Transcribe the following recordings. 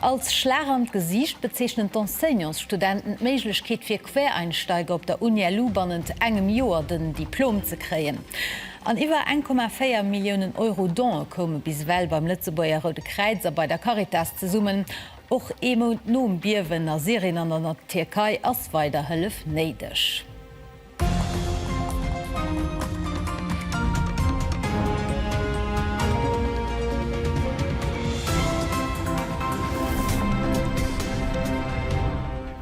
Als Schlag an d'Gesiicht bezeechnen d'Enseignantsstudenten d'Méiglechkeet fir Quereinsteiger op der UniLu bannent engem Joer den Diplom ze kréien. An iwwer eng Komma véier Milliounen Euro Don'e koume bis ewell beim Lëtzebuerger Roude Kräiz a bei der Caritas zesummen. Och ee Mount nom Biewen a Syrien an an der Tierkei ass weider Hëllef néideg.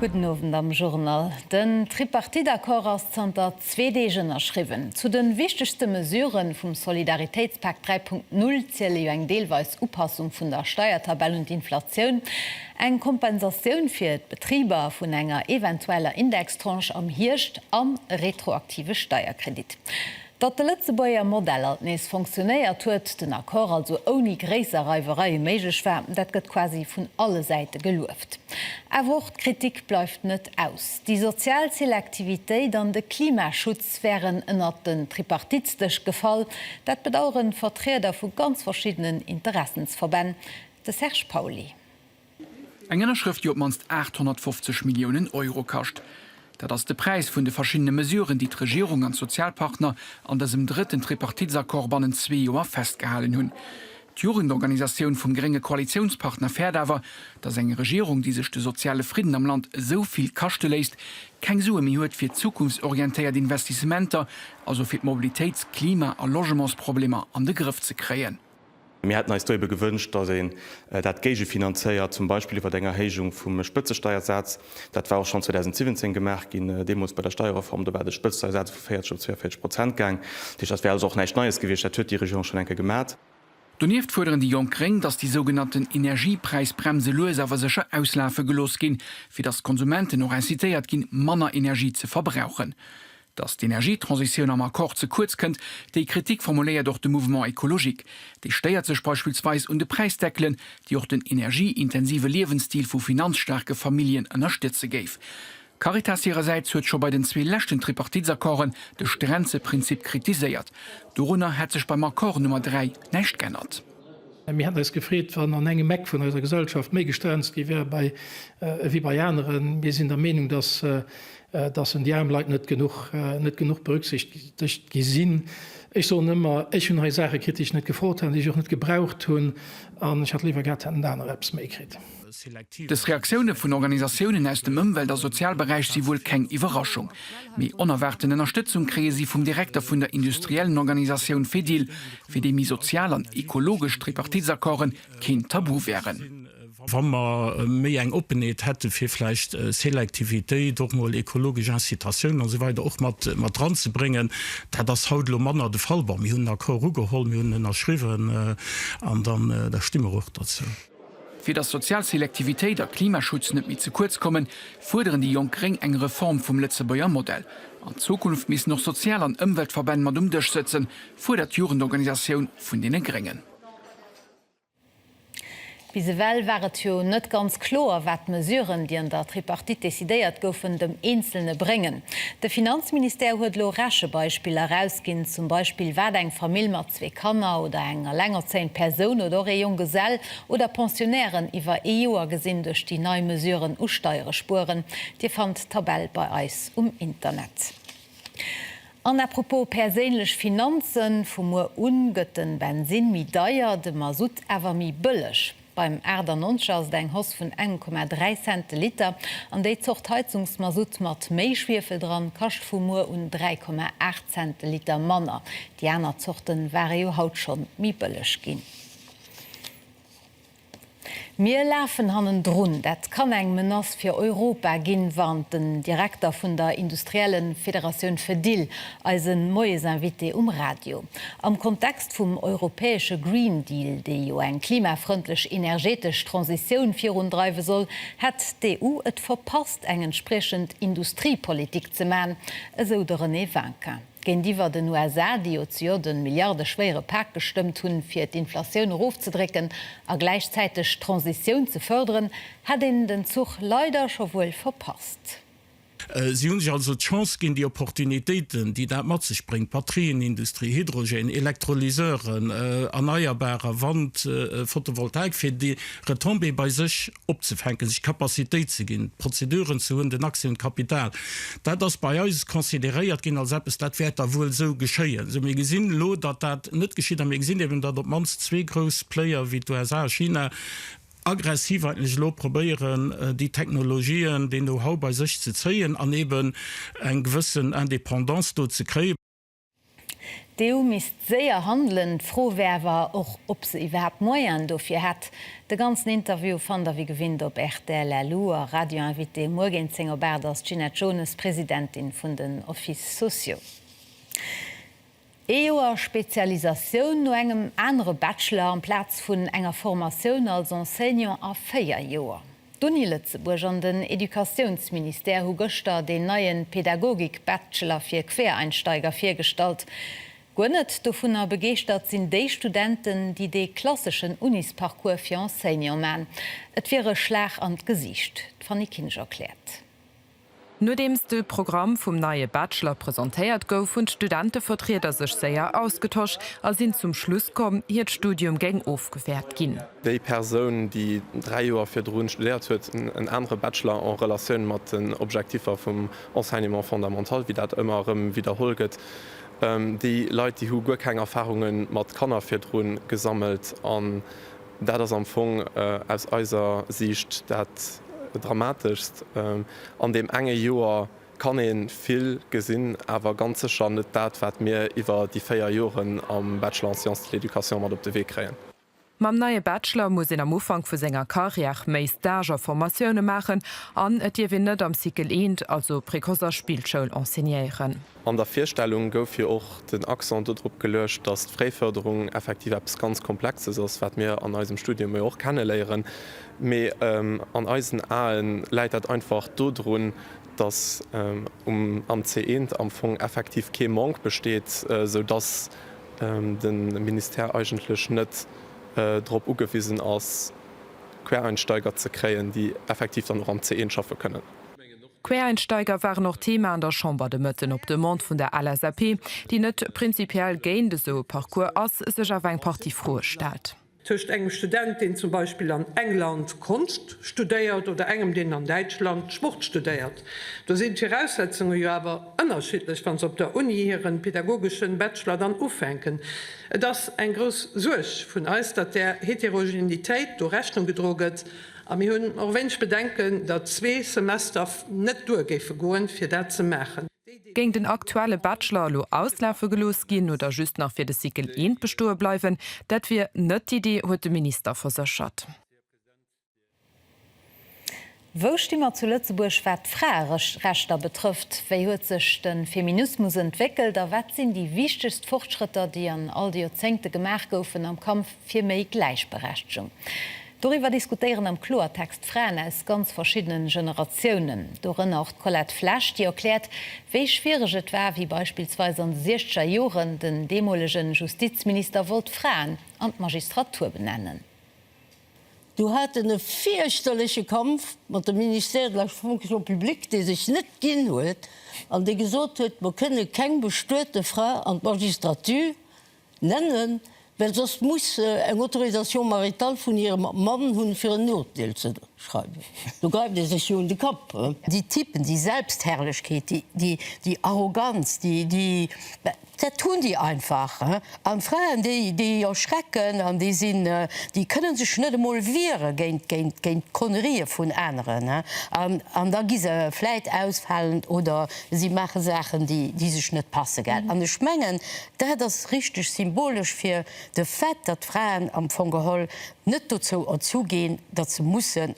Gudden Owend am Journal. Den Tripartite-Accord ass zanter zwee Deeg ënnerschriwwen. Zu de wichtegste Mesure vum Solidaritéitspak 3.0 ziele jo eng deelweis Upassung vun der Steiertabell un d'Inflatioun, Eng Kompensatioun fir d'Betriber vun enger eventueller Indextranche am Hierscht an e retroaktive Steierkredit. Datt de Lëtzebuerger Modell alt nees fonctionéiert huet, den Accord also ouni gréisser Reiwereie méiglech war, dat gëtt quasi vun alle Säite gelueft. Awer och d'Kritik bleift net aus. Déi sozial Selektivitéit an de Klimaschutz wären ënnert den Tripartitsdësch gefall. Dat bedaueren Vertrieder vu ganz verschiddenen Interessensverbänn. De Serge Pauly. Eng Ënnerschrëft, déi op d'mannst 850 Milliounen Euro kascht. Dat ass de Präis vun de verschiddene Mesuren, déi d'Regierung an d'Sozialpartner an dësem drëtten Tripartitsaccord bannent zwee Joer festgehalen hunn. D'Jugendorganisatioun vum grénge Koalitiounspartner fäert awer, datt eng Regierung, déi sech de soziale Fridden am Land esou vill kaschte léisst, keng Sue méi huet fir zukunftsorientéiert Investissementer, also fir d'Mobilitéits-, Klima a Logementsproblemer an de Grëff ze kréien. Mir hätten eis do ebe gewënscht, datt een dat géigefinanzéiert, zum Beispill iwwer eng Erhéijung vum Spëtzesteiersaz. Dat war och schonn 2017 gemaach ginn, deemools bei der Steierreform. Do war de Spëtzesteiersaz vu 40 op 42 Prozent gaang. Dat heescht, dat wär also och näischt Neies gewiescht, dat huet déi Regierung schonn eng Kéier gemat. Donieft fuerderen déi jonk gréng, datt déi sougenannten Energiepräisbremse lues awer sécher auslafe gelooss ginn, fir datt d'Konsumenten och incitéiert ginn, manner Energie ze verbrauchen. Datt d'Energietransitioun am Accord ze kuerz kënnt, déi Kritik formuléiert och de Mouvement écologique. Dee stéiert sech beispillsweis un de Präisdeckelen, déi och den energieintensive Liewensstil vu finanzstaarke Familljen ënnerstëtze géif. D'Caritas hirersäits huet scho bei den zwee leschten Tripartitsaccorden de Stränzeprinzip kritiséiert. Dorunner hätt sech beim Accord Nummer 3 näischt g'ännert. Mir hätten eis gefreet, wann an engem Eck vun eiser Gesellschaft méi gestrenzt gi wär ewéi bei aneren. Mir sinn der Meenung, dass en déi aarm Leit net genuch berücksichtegt gi sinn. Ech soen ëmmer, ech hunn hei Saache kritt, déi ech net gefrot hat, déi ech och net gebraucht hunn, an ech hätt léiwer gehat, hätten anerer eppes méi kritt. Dës Reaktioune vun Organisatiounen aus dem Ëmwelt a Sozialberäich si wuel keng Iwwerraschung. Mee onerwaarten Ënnerstëtzung kréie si vum Direkter vun der industriellen Organisatioun Fedil, fir déi méi sozial an ekologesch Tripartitsaccorden keen Tabu wären. Wa mer méi eng Oppenheet hätte fir vläicht Selektivitéit, och mol ekologesch Incitatiounen a sou weider och mat ranzebréngen. Dat ass haut elo manner de Fall. Bon, mir hunn den Accord ugeholl, mir hunn en ënnerschriwwen an dann da sti mer och derzou. Fir datt sozial Selektivitéit a Klimaschutz net méi ze kuerz kommen, fuerderen déi jonk gréng eng Reform vum Lëtzebuerger Modell. An Zukunft missten och Sozial an Ëmweltverbänn mat um Dësch sëtzen, fuerdert d'Jugendorganisatioun vun deene Gréngen. Bis ewell war et jo net ganz kloer, wat d'Mesuren, déi an der Tripartite decidéiert goufen, dem Eenzelne bréngen. De Finanzministère huet elo Rechebeispiller erausginn, zum Beispill wat eng Famill mat zwee Kanner oder eng elengerzéiend Persoun oder och ee Jonggesell oder Pensionnairen iwwer ee Joer gesinn duerch déi nei Mesuren u Steiere spueren. Dir fannt d'Tabell bei eis um Internet. An à propos perséinlech Finanzen, Vu muer un gëtt de Bensinn méi deier, de Masutt awer méi bëlleg. Beim 98 ass et eng Hausse vun 1,3 Cent de Liter an déi Zort Heizungsmasutt mat méi Schwiefel dran kascht vu muer un 3,8 Cent de Liter manner. Déi aner Zorte ware jo haut scho méi bëlleg ginn. Mir lafen hannendrun, dat kann eng Menace fir Europa ginn, warnt den Direkter vun der industriellen Federatioun Fedil eise Moiesinvité um Radio. Am Kontext vum europäesche Green Deal, dee jo eng klimafrëndlech energetesch Transitioun virundreiwe soll, hätt d'EU et verpasst, eng entspriechend Industriepolitik ze maachen, esou de René Vinquin. Géintiwwer den USA, déi jo zejoert e milliardeschwéiere Pak gestëmmt hunn, fir d'Inflatioun erofzedrécken a gläichzäiteg d'Transitioun ze fërderen, hätt een den Zuch leider scho wuel verpasst. Si hunn sech also d'Chance ginn, déi Opportunitéiten, déi dat mat sech bréngt, Batterienindustrie, Hydrogène, Elektrolyseuren, erneierbarer, Wand, Photovoltaik, fir déi Retombée bei sech opzefänken, sech d'Capacitéit ze ginn, d'Prozeduren ze hunn, den Accès un d'Kapital. Dat ass bei eis consideréiert ginn als eppes, dat wäert da wuel esou geschéien. Sou, mir gesinn elo, datt dat net geschitt a mir gesinn eben, datt op d'mannst zwee grouss Player wéi d'USA a China, aggressiv eigentlech elo probéieren, déi Technologien, dee Know-how bei sech ze zéien an eben eng gewëssen Indépendance do ze kréien. D'EU misst séier handelen. D'Fro wär awer och, ob se iwwerhaapt Moyen dofir hätt. De ganzen Interview fannt der wéi gewinnt op rtl LU a Radio Invité. Muer géint 10 op 8 ass d'Ginette Jones, Presidentin vun den Offices sociaux. Ee Joer Spezialisatioun no engem anere Bachelor amplaz vun enger Formatioun als Enseignant a véier Joer. D'Uni Lëtzebuerg an den Educatiounsministère hu gëschter deen neie Pädagogik-Bachelor fir Quereinsteiger virgestallt. Guer net dovunner begeeschtert sinn déi Studenten, déi dee klasseschen Unisparcours fir Enseignant man. Et wier e Schlag an d'Gesiicht. D'Fanny Kinsch erkläert. Nodeems de Programm vum neie Bachelor presentéiert gouf, hunn d'Studentevertrieder sech séier ausgetosch a sinn zum Schluss komm, hiert Studium géing ofgewäert ginn. Déi Persoun, déi dräi Joer virdrun studéiert huet, en anere Bachelor en Relatioun mat den Objektiffer vum Enseignement fondamental, wéi dat ëmmer erëm widderholl gëtt. Déi Leit, déi hu guer keng Erfarunge mat Kanner virdrun gesammelt an Dat ass am Fong aus eiser Siicht dat Dramateschst an deem enge Joer. Kann ee vill gesinn, awer ganz sécher net dat, wat mir iwwer déi véier Joren am Bachelor en Sciences de l'Education mat op de Wee kréien. Mam neie Bachelor muss een am Ufank vu senger Carrière méi Stage a Formatioune maachen an et dierf een net am Cycle I, also Précoce a Spillschoul, enseignéieren. An der Virstellung gouf jo och den Accent dodrop geluecht, datt d'Fréifërderung effektiv eppes ganz Komplexes ass, wat mir an eisem Studium jo och kenneléieren, mee an eisen Ae läit dat einfach dodrun, datt am CE am Fong effektiv kee Manque besteet, esou datt de Ministère eigentlech net drop ugewisen ass, Quereinsteiger ze kréien, déi effektiv dann och am CE schaffe kënnen. D'Quereinsteiger waren och Thema an der Chamber de Mëtten. Op Demande vun der LSAP, déi net prinzipiell géint esou e Parcours ass, sech awer eng Partie Froe stellt. Tëscht engem Student, deen zum Beispill an England Konscht studéiert, oder engem, deen an Däitschland Sport studéiert, do sinn d'Viraussetzunge jo awer ënnerschiddlech, wa se op der Uni hiren pedagogeschen Bachelor dann ufänken. Et ass eng grouss Suerg vun eis, datt där Heterogenitéit do Rechnung gedroe gëtt. A mir hunn och wéineg Bedenken, datt zwee Semester net duer géife goen, fir dat ze maachen. Géing den aktuelle Bachelor elo auslafe gelooss ginn oder just nach fir de Cycle I bestoe bleiwen, dat wier net d'Idee, huet de Minister verséchert. Wou sti mer zu Lëtzebuerg wat d'Fraerechter betrëfft? Wéi huet sech de Feminismus entwéckelt a wat sinn déi wichtegst Fortschrëtter, déi an all de Joerzéngte gemaach goufen am Kampf fir méi Gläichberechtegung. Doriwwer diskutéieren am Kloertext Fraen aus ganz verschiddene Generatiounen, dorënner och d'Colette Flesch, déi erkläert, wéi schwiereg et war, wéi beispillsweis an de siechzeger Joren den deemolege Justizminister wollt d'Fraen an d'Magistratur benennen. Do hat en e fierchterleche Kampf mat dem Ministère de la Fonction publique, dee sech net ginn huet an dee gesot huet, mer kënne keng bestuete Fra an d'Magistratur. Nennen, well soss muss se eng Autorisation maritale vun hirem Mann hunn, fir en Urteel ze schreiwen. Do gräift ee sech jo un de Kapp. Déi Typen, déi Selbstherrlechkeet, déi Arroganz, dat hunn déi einfach. An d'Fraen, déi erschrecken an déi kënne sech net emol wiere géint d'Connerien vun aneren. An da gi se vläit ausfalend oder si maache Saachen, déi sech net passen. An ech mengen, Dat ass richteg symbolesch fir de Fait, datt d'Fraen am Fong geholl net dozou erzu ginn, datt se mussen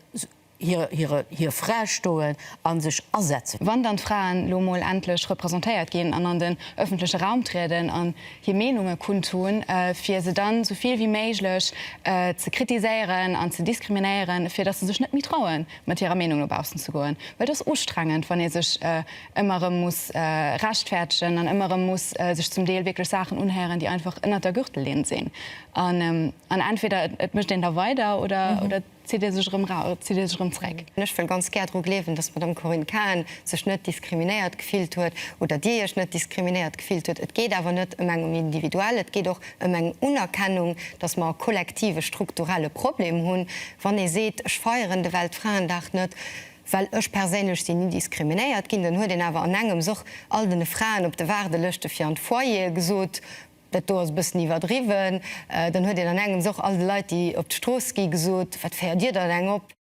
hir Fra stoen a sech asetzen. Wann dann d'Fraen elo emol endlech representéiert ginn an an den ëffentleche Raum trieden an hir Meenunge kundtun, fir se dann esou vill wéi méiglech ze kritiséieren an ze diskriminéieren, fir datt se sech net méi trauen, mat hirer Meenung no baussen ze goen. Well et ass ustrengend, wann ee sech. ëmmer erëm muss rechtfäertegen an ëmmer erëm muss sech zum Deel wierklech Saachen unhéieren, déi einfach ënnert der Gürtellinn sinn. An entweder et mécht een da weider oder et zitt ee sech erëm erau, zitt ee sech erëm zréck. Ech wëll ganz gär dru gleewen, dass d'Madame Corinne Cahen sech net diskriminéiert gefillt huet oder Dir Iech net diskriminéiert gefillt hutt. Et geet awer net ëm eng um Individuell, et geet och ëm eng Unerkennung, dass mer e kollektive strukturelle Problem hunn. Wann ee seet, ech feieren de Weltfraendag net, Well ech perséinlech sinn ni diskriminéiert ginn. Dann huet een awer an engems och all den Fraen op de Waardelëschte fir an d'Foyere gesot, dat do ass e bëssen iwwerdriwwen. Dann huet een an engems och all de Leit, déi op d'Strooss gi gesot, wat féiert dir dann eng op?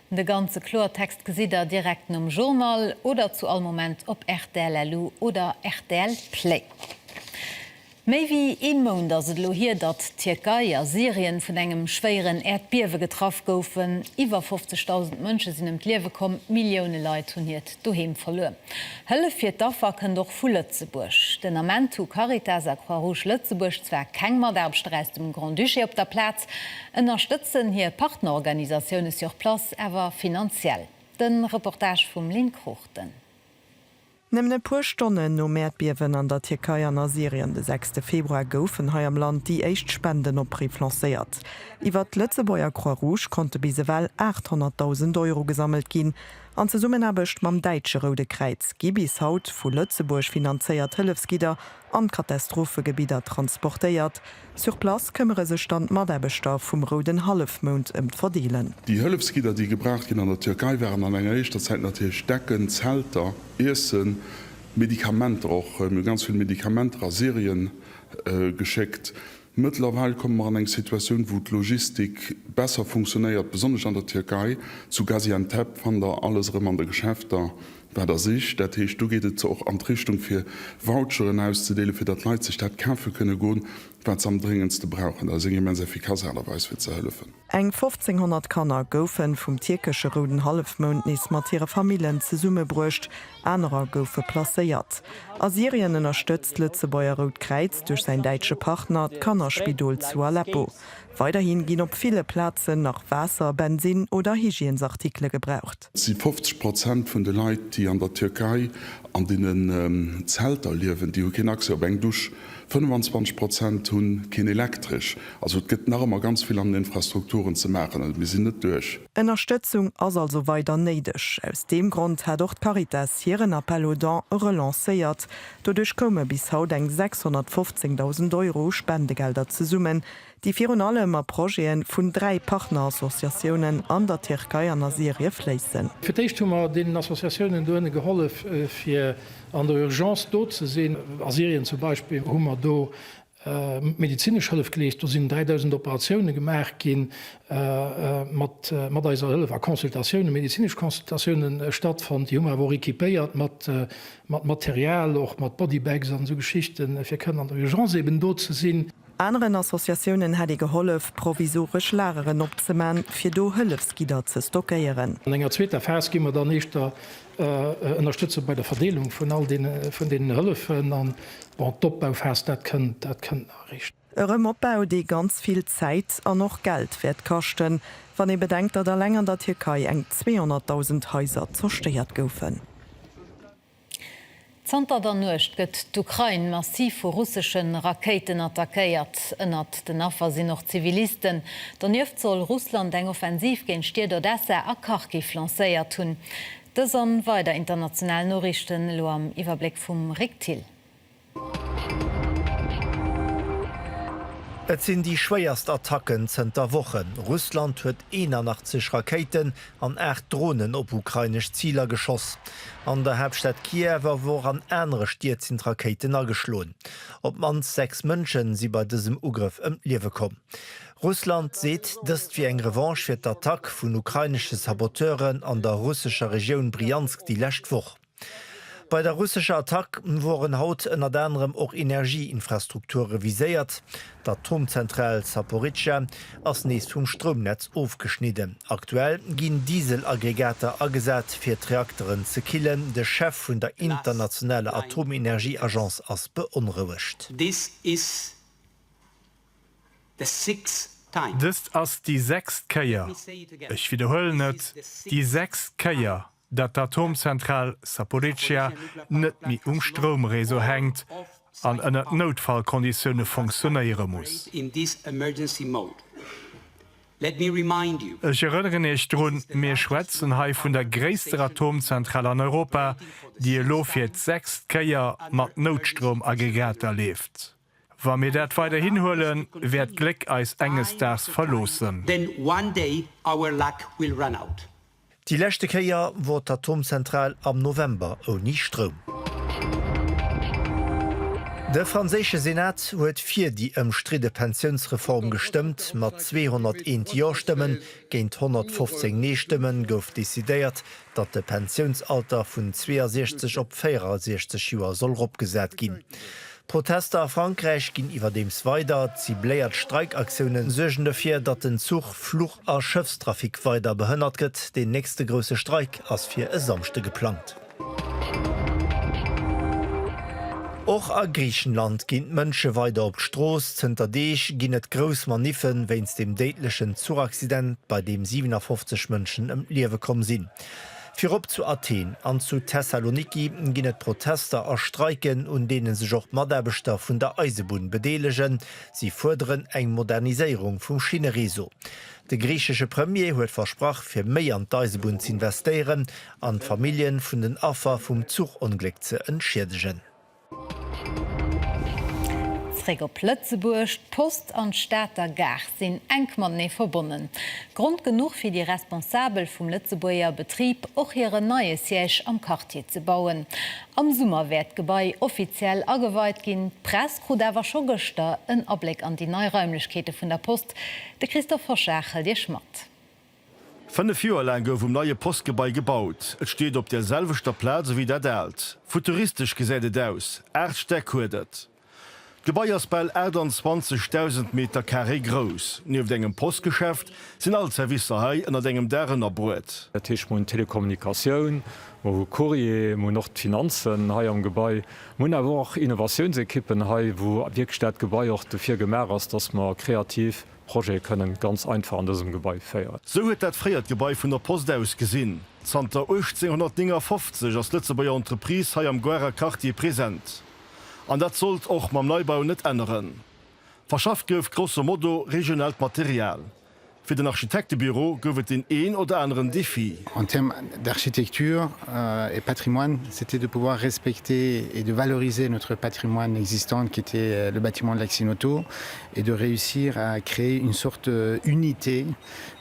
De ganze Kloertext gesitt der direkt nom Journal oder zu all Moment op rtl-lu oder rtl Play. Méi wéi ee Mount ass et elo hier, datt d'Tierkei a Syrien vun engem schwéieren Äerdbiewe getraff goufen. Iwwer 50.000 Mënsche sinn ëm d'Liewe komm, Millioune Leit hunn hiert Doheem verluer. Hëllef fir d'Affer kënnt och vu Lëtzebuerg. Den Ament hu Caritas a Croix-Rouge Lëtzebuerg zwar keng Mataarbechter aus dem Grand-Duché op der Plaz, ënnerstëtzen hir Partnerorganisatioune sur place awer finanziell. De Reportage vum Lynn Cruchten. Nëmmen e puer Stonnen nom Äerdbiewen an der Tierkei an a Syrien de sechste Februar goufen hei am Land déi éischt Spendenoppriff lancéiert. Iwwert d'Lëtzebuerger Croix Rouge konnte bis ewell 800.000 Euro gesammelt ginn. An Zesummenaarbecht mam däitsche Roude Kräiz gi bis haut vu Lëtzebuerg finanzéiert Hëllefsgidder an d'Katastrophegebidder transportéiert. Sur place këmmere sech dann d'Mataarbechter vum Rouden Hallefmound ëm d'Verdeelen. Déi Hëllefsgidder, déi gebraucht ginn an der Türkei, waren an enger éischter Zäit natierlech Decken, Zelter, Iessen, Medikamenter och. Mir hu ganz vill Medikamenter a Syrien geschéckt. Mëttlerweil komme mer an eng Situatioun, wou d'Logistik besser funktionéiert, besonnesch an der Türkei. Zu Gaziantep fannt Der alles erëm an de Geschäfter. Wat ass ich? Dat heescht, do geet et zwar och an d'Richtung, fir Voucheren auszedeelen, fir datt d'Leit sech dat kafe kënne goen, wat se am dréngendste brauchen. Dat ass eng immens effikass Aart a Weis, fir ze hëllefen. Eng 1.500 Kanner goufen vum tierkesche Rouden Hallefmound nees mat hire Famillen zesummebruecht, anerer goufe placéiert. A Syrien ënnerstëtzt d'Lëtzebuerger Rout Kräiz duerch säin däitsche Partner d'Kannerspidol zu Aleppo. Weiderhi ginn op ville Plazen nach Waasser, Bensinn oder Hygiènesartikele gebraucht. Et si 50 Prozent vun de Leit, déi an der Tierkei an deenen Zelter liewen, déi hu keen Accès op eng Dusch. 25 Prozent hu keen Elektresch. Also et gëtt nach ëmmer ganz vill an den Infrastrukturen ze maachen. Also mir sinn net duerch. Ënnerstëtzung ass also weider néideg. Aus deem Grond hat och d'Caritas hiren Appel aux dons relancéiert. Doduerch koume bis haut eng 615.000 Euro u Spendegelder zesummen, déi virun allem a Projete vun dräi Partnerassociatiounen an der Tierkei an a Syrie fléissen. Fir d'éischt hu mer deenen Associatiounen do ënne gehollef, fir an der Urgence do ze sinn. A Syrien zum Beispill hu mer do medezinesch Hëllef geleescht, do sinn 3.000 Operatioune gemaach gi mat eiser Hëllef, a Consultatiounen, medezinesch Consultatiounen stattfonnt. Déi hu mer awer och equipéiert mat Material, och mat Bodybags an esou Geschichten, fir kënnen an der Urgence eeben do ze sinn. Aneren Associatiounen hätt ee gehollef, provisoresch Lageren opzeman, fir do Hëllefsgidder ze stockéieren. An enger zweeter Phas gi mer dann eischter ënnerstëtze bei der Verdeelung vun all deenen Hëllefen. An, bon, d'Opbauphas, dat kënnt, dat kënnt nach eréischt. E Rëmopbau, dee ganz vill Zäit an och Geld wäert kaschten, wann ee bedenkt, datt alleng an der Tierkei eng 200.000 Haiser zerstéiert goufen. Zanter der Nuecht gëtt d'Ukrain massiv vu russesche Rakéiten attackéiert. Ënnert den Affer sinn och Zivilisten. Donieft soll Russland eng Offensiv géint d'Stied Odessa a Kharkiv lancéiert hunn. Dës an weider international Noriichten elo am Iwwerbléck vum Rick Thill. Et sinn déi schwéierst Attacken zënter Wochen. Russland huet 81 Rakéiten an 8 Dronen op ukrainesch Ziler geschoss. An der Haaptstad Kiew, awer och an anere Stied sinn d'Rakéiten ageschloen. Op d'mannst 6 Mënsche si bei dësem Ugrëff ëm d'Liewe komm. Russland seet dëst wier eng Revanche fir d'Attack vun ukrainesche Saboteuren an der russescher Regioun Bryansk déi lescht Woch. Bei der russescher Attack woren haut ënnert anerem och Energieinfrastrukture viséiert. D'Atomzentral Zaporizhzhia ass nees vum Stroumnetz ofgeschnidden. Aktuell ginn Dieselaggregater agesat, fir d'Reakteren ze killen. De Chef vun der internationaler Atomenergieagence ass beonrouegt. Dëst ass déi sechst Kéier, ech widderhuelen et, déi sechst Kéier, datt d'Atomzentral Zaporizhia net méi um Stroumréseau hänkt an ënnert Noutfallkonditioune funktionéiere muss. Ech erënneren Iech drun, mir schwätzen hei vun der gréisster Atomzentral an Europa, déi elo fir d'sechst Kéier mat Noutstroumaggregater leeft. Wa mir dat weiderhin huelen, wäert d'Gléck eis enges Daags verloossen. Then one day our luck will run out. Déi leschte Kéier wor d'Atomzentral am November ouni Stroum. De franséische Senat huet fir déi ëmstridde Pensiounsreform gestëmmt. Mat 201 Jo-Stëmmen géint 115 Nee-Stëmmen gouf decidéiert, datt de Pensiounsalter vun 62 op 64 Joer soll eropgesat ginn. D'Protester a Frankräich ginn iwwerdeems weider. Cibléiert Streikaktiounen suergen dofir, datt den Zuch-, Fluch a Schëffstrafic weider behënnert gëtt. Deen nächste grousse Streik ass fir e Samschde geplangt. Och a Griichenland ginn d'Mënsche weider op d'Strooss. Zënter Deeg ginn et grouss Maniffe wéinst dem déidlechen Zuchaccident, bei deem 57 Mënschen ëm d'Liewe komm sinn. Virop zu Athen an zu Thessaloniki ginn et Protester a Streiken, un deene sech och d'Mataarbechter vun der Eisebunn bedeelegen. Si fuerderen eng Moderniséierung vum Schinnereseau. De griichesche Premier huet versprach, fir méi an d'Eisebunn z'investéieren an d'Famillje vun den Affer vum Zuchongléck ze entschiedegen. Zréck op Lëtzebuerg, D'Post an d'Stater Gare sinn enk matenee verbonnen. Grond genuch fir déi Responsabel vum Lëtzebuerger Betrib, och hiren neie Siège am Quartier ze bauen. Am Summer wäert d'Gebai offiziell ageweit ginn. D'Press krut awer scho gëschter en Abléck an déi nei Raimlechkeete vun der Post. De Christophe Hoschag hëlt Iech mat. Fënnef Joer laang gouf um neie Postgebai gebaut. Et steet op der selwechter Plaz ewéi dat aalt. Futuristesch gesäit et aus, aacht Stäck huet et. D'Gebai ass bal 28.000 Meter Carré grouss. Nieft engem Postgeschäft sinn all d'Servicer hei ënnert engem Daach ënnerbruet. Dat heescht, mir hunn d'Telekommunikatioun, mer hu Courrier, mer hunn och d'Finanzen hei am Gebai. Mer hunn awer och Innovatiounsequippen hei, wou wierklech dat Gebai och dofir gemaach ass, dass mer kreativ Projete kënnen ganz einfach an dësem Gebai féieren. Sou huet dat fréiert Gebai vun der Post ausgesinn. Zanter 1859 ass d'Lëtzebuerger Entreprise hei am Goarer Quartier present. An dat sollt och mam Neibau net änneren. Verschafft gouf grosso modo regionaalt Material. Fir den Architektebüro gouf et deen een oder aneren Defi. En termes d'architecture et patrimoine, c'était de pouvoir respecter et de valoriser notre patrimoine existant qui était le bâtiment de l'Accineauto. et de réussir à créer une sorte d'unité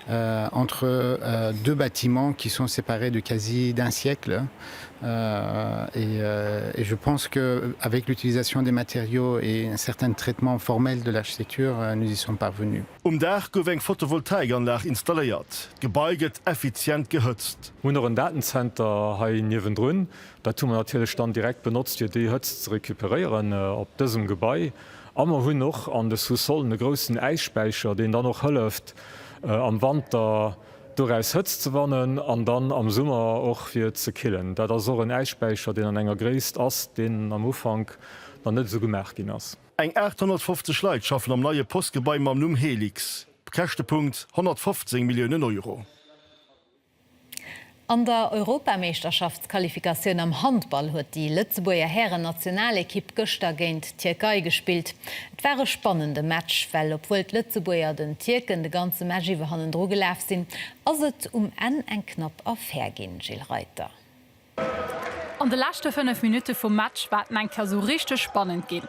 entre deux bâtiments qui sont séparés de quasi d'un siècle et je pense que avec l'utilisation des matériaux et un certain traitement formel de l'architecture nous y sommes parvenus. Um Daach gouf eng Photovoltaikanlag installéiert. D'Gebai gëtt effizient gehëtzt. Mir hunn och en Datenzenter hei niewendrun. Dat hu mer natierlech dann direkt benotzt, fir déi Hëtzt ze recuperéieren op dësem Gebai. A mer hunn och an de Sous-sollen e groussen Äisspäicher, deen dann och hëlleft, am Wanter doraus Hëtzt ze wannen an dann am Summer och fir ze killen. Dat ass och en Äisspäicher, deen an enger Gréisst ass, deen am Ufank nach net esou gemaach ginn ass. Eng 850 Leit schaffen am neie Postgebai mam Numm Helix. Käschtepunkt, 115 Milliounen Euro. An der Europameeschterschaftsqualifikatioun am Handball huet déi Lëtzebuerger Hären-Nationalekipp gëschter géint d'Tierkei gespillt. Et war e spannende Match, well obwuel d'Lëtzebuerger den Tierken de ganze Match iwwer hannendru gelaf sinn, ass et um Enn eng knapp Affär ginn, Gilles Reiter. An de leschte 5 Minutte vum Match war et en eng Kéier esou richteg spannend ginn.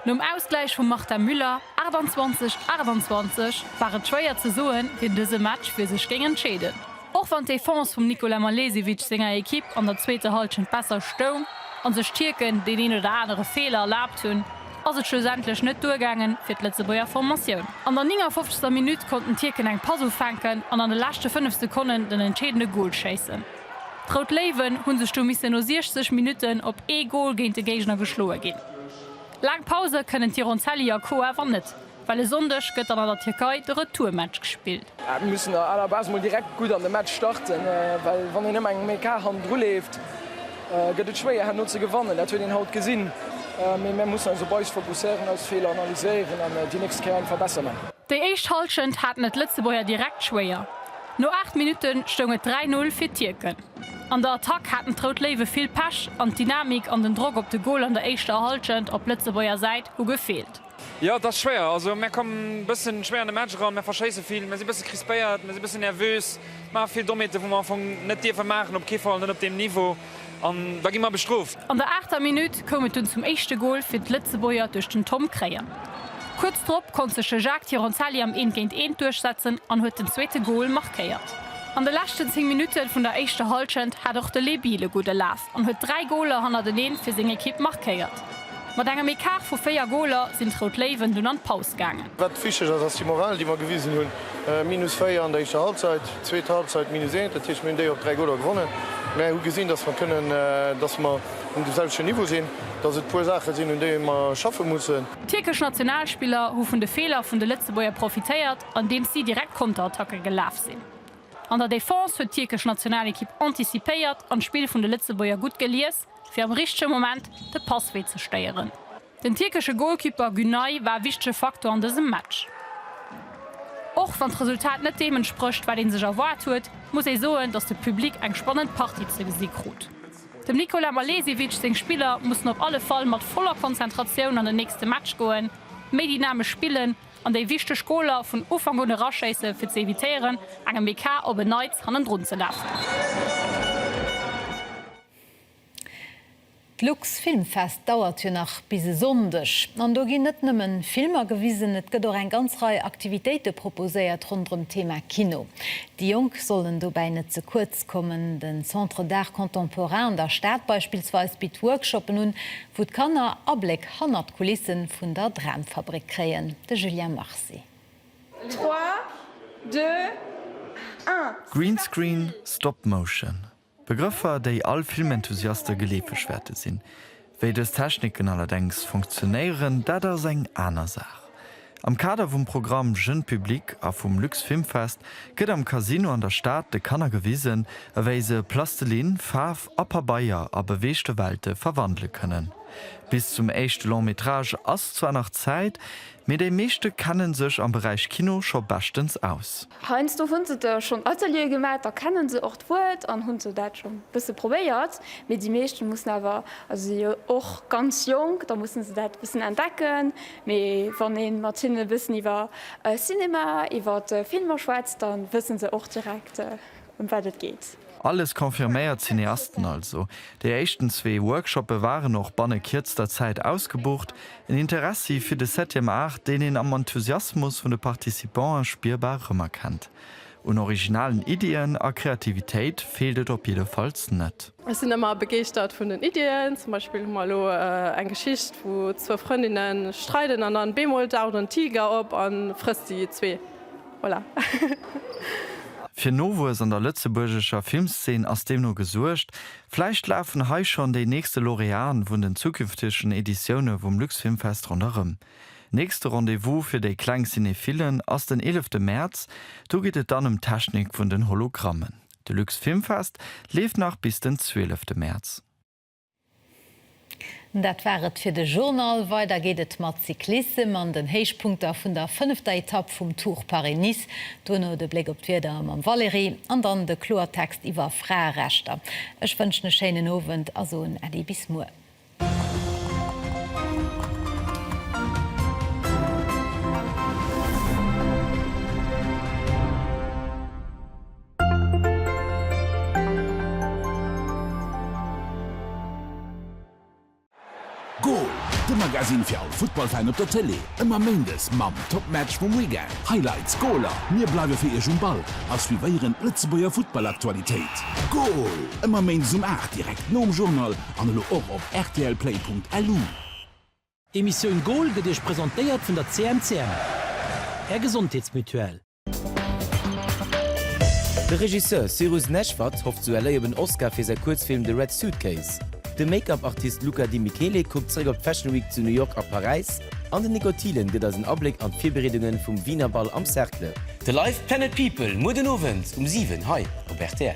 Nom Ausgläich vum Marta Müller, 28, 28, war et schwéier ze soen, wien dëse Match fir sech géing entscheeden. Och wann d'Defense vum Nikola Malesevic senger Ekipp an der zweeter Hallschent besser stoung an sech d'Tierken deen een oder anere Feeler erlaabt hunn, ass et schlussendlech net duergaangen fir d'Lëtzebuerger Formatioun. An der 59. Minutt konnten d'Tierken eng Pass ufänken an an de leschte 5 Sekonnen den entscheedende Gol schéissen. D'Rout Léiwen hu sech du missen no 60 Minutten op ee Gol géint de Géigner geschloe ginn. Laang Pause kënnen d'Hironcelli a Co awer net, well e Sonndeg gëtt dann an der Tierkei de Retourmatch gespillt. Mir mussen a la Base mol direkt gutt an de Match starten, well wann een ëmmer engem ee Kar hannendru leeft, gëtt et schwéier herno ze gewannen. Dat huet een haut gesinn, mee mir mussen eis op eis fokusséieren, eis Feeler analyséieren an déi nächst Kéier eng verbessere man. Déi éischt Hallschent haten et d'Lëtzebuerger direkt schwéier. No 8 Minutte stoung et 3-0 fir d'Tierken. An der Attack haten d'Rout Léiwe vill Pech an d'Dynamik an den Drock op de Gol an der éischter Hallschent op Lëtzebuerger Säit hu gefeelt. Jo et ass schwéier, also mär kommen bëssen schwéier an de Match eran, mär verschéissen vill, mär sinn bëssen crispéiert, mär sinn bëssen nervös, maachen vill Dommheeten wou mär am Fong net dierfen maachen, op kee Fall net op deem Niveau. An da gi mer bestrooft. An der aachter Minutt koum et dunn zum éischte Gol fir d'Lëtzebuerger duerch den Tom Kreien. Kuerz drop konnt sech de Jacques Tironzelli am Eent géint Eent duerchsetzen an huet den zweete Gol markéiert. An de leschten 10 Minutte vun der éischter Hallschent hat och de Lé Biel e gudde Laf an huet dräi Goler hannerteneen fir seng Ekipp markéiert. Mat engem Ecart vu 4 Goler sinn d'Rout Léiwen dunn an d'Paus gaangen. Wat wichteg ass, ass déi Moral, déi mer gewisen hunn. Minus 4 an der éischter Halbzeit, zweet Halbzeit minus 1, dat heescht, mir hunn déi op 3 Goler gewonnen, mä hu gesinn, dass mer kënnen, dass mer um dem selwechten Niveau sinn, dass et e puer Saache sinn, un deene mer schaffe mussen. D'tierkesch Nationalspiller hu vun de Feeler vun de Lëtzebuerger profitéiert, andeems si direkt Konterattacke gelaf sinn. An der Defense huet d'tierkesch Nationalekipp anticipéiert an d'Spill vun de Lëtzebuerger gutt gelies. fir am richtege Moment de Passwee ze stéieren. Den tierkesche Golkipper Günay war e wichtege Faktor an dësem Match. Och wann d'Resultat net deem entsprécht, wat ee sech erwaart huet, muss ee soen, datt de Public eng spannend Partie ze gesi krut. Dem Nikola Malesevic seng Spiller mussen op alle Fall mat voller Konzentratioun an den nächste Match goen, méi dynamesch spillen an déi wichteg Goler vun Ufank un eraschéisse fir ze evitéieren, engem BK op en Neits hannendrun ze lafen. D'Lux-Filmfest dauert jo nach bis e Sonndeg. An do ginn net nëmmen Filmer gewisen, et gëtt och eng ganz Rei Aktivitéite proposéiert ronderëm d'Thema Kino. Déi Jonk sollen dobäi net ze kuerz kommen. Den Centre d'Art Contemporain an der Stad beispillsweis bitt Workshoppen un, wou d'Kanner Abléck hannert d'Kulisse vun der Dramfabrik kréien. De Julien Marcy. Trois, deux, un, stop! Greenscreen, Stop Motion, Begrëffer, déi all Filmenthusiaste geleefeg wäerte sinn. Wéi dës Techniken allerdéngs funktionéieren, dat ass eng aner Saach. Am Kader vum Programm Jeune Public a vum Luxfilmfest gëtt am Casino an der Stad de Kanner gewisen, ewéi se Plastelinn, Faarf a Pabeier a beweegte Welte verwandele kënnen. Bis zum éischte Long-métrage ass zwar nach Zäit, Mee déi meeschte kennen sech am Beräich Kino scho beschtens aus. Heiansdo hunn se da schonn Ateliere gemaach, da kennen se och d'Wuert an hunn sou dat schonn e bësse probéiert. Mee déi meeschten mussen awer, also si jo och ganz jonk, da mussen se dat e bëssen entdecken. Mee wann een mat hinnen e bëssen iwwer Cinema, iwwer Filmer schwätzt, dann wëssen se och direkt, ëm wat et geet. Alles confirméiert Cineasten also. Déi éischten zwee Workshoppe waren och banne kierzter Zäit ausgebucht. En Interessi fir de Septième Art, deen een am Enthusiasmus vun de Participanten spierbar rëmerkennt. Un originalen Iddien a Kreativitéit feelt et op jiddefalls net. Ech sinn ëmmer begeeschtert vun den Iddien. Zum Beispill hu mer elo eng Geschicht, wou zwou Frëndinne streiden an dann bemol daucht en Tiger op a frësst déi zwee. Voilà. Fir Nowuess an der lëtzebuergescher Filmszene ass deemno gesuergt. Vläicht lafen hei schonn déi nächste Laureaten vun den zukünftegen Editioune vum Luxfilmfest ronderëm. Nächste Rendez-vous fir déi kleng Cinephillen ass den 11 Mäerz. Do geet et dann ëm d'Technik vun den Hologrammen. De Luxfilmfest leeft nach bis den 12 Mäerz. Dat war et fir de Journal. Weider geet et mat Cyclissem an den Héichpunkter vun der fënnefter Etapp vum Tour Paris-Nice. Duerno de Bléck op d'Wieder mam Valérie an dann de Kloertext iwwer Fraerechter. Ech wënschen e schéinen Owend a soen Äddi bis muer. Goal! De Magasinn fir all Futtballfan op der Tëlee, ëmmer Méindes mam Topmatch vum Weekend, Highlights, Goaler. Mir bleiwe fir Iech um Ball a suivéieren d'Lëtzebuerger Futtballaktualitéit. Goal! Ëmmer Méindes um 8, direkt nom Journal an elo och op rtlplay.lu. D'Emissioun Goal gëtt Iech presentéiert vun der CMCM, Är Gesondheetsmutuelle. De Regisseur Cyrus Neshvad hofft zu LA op en Oscar fir säi Kuerzfilm The Red Suitcase. De Make-up-Artist Luca Di Michele kuckt zeréck op d'Fashion Week zu New York a Paräis an den Nico Thielen gëtt eis en Abléck an d'Virbereedungen vum Wiener Bal am Cercle. De Live Planet People muer den Owend um 7 hei op rtl.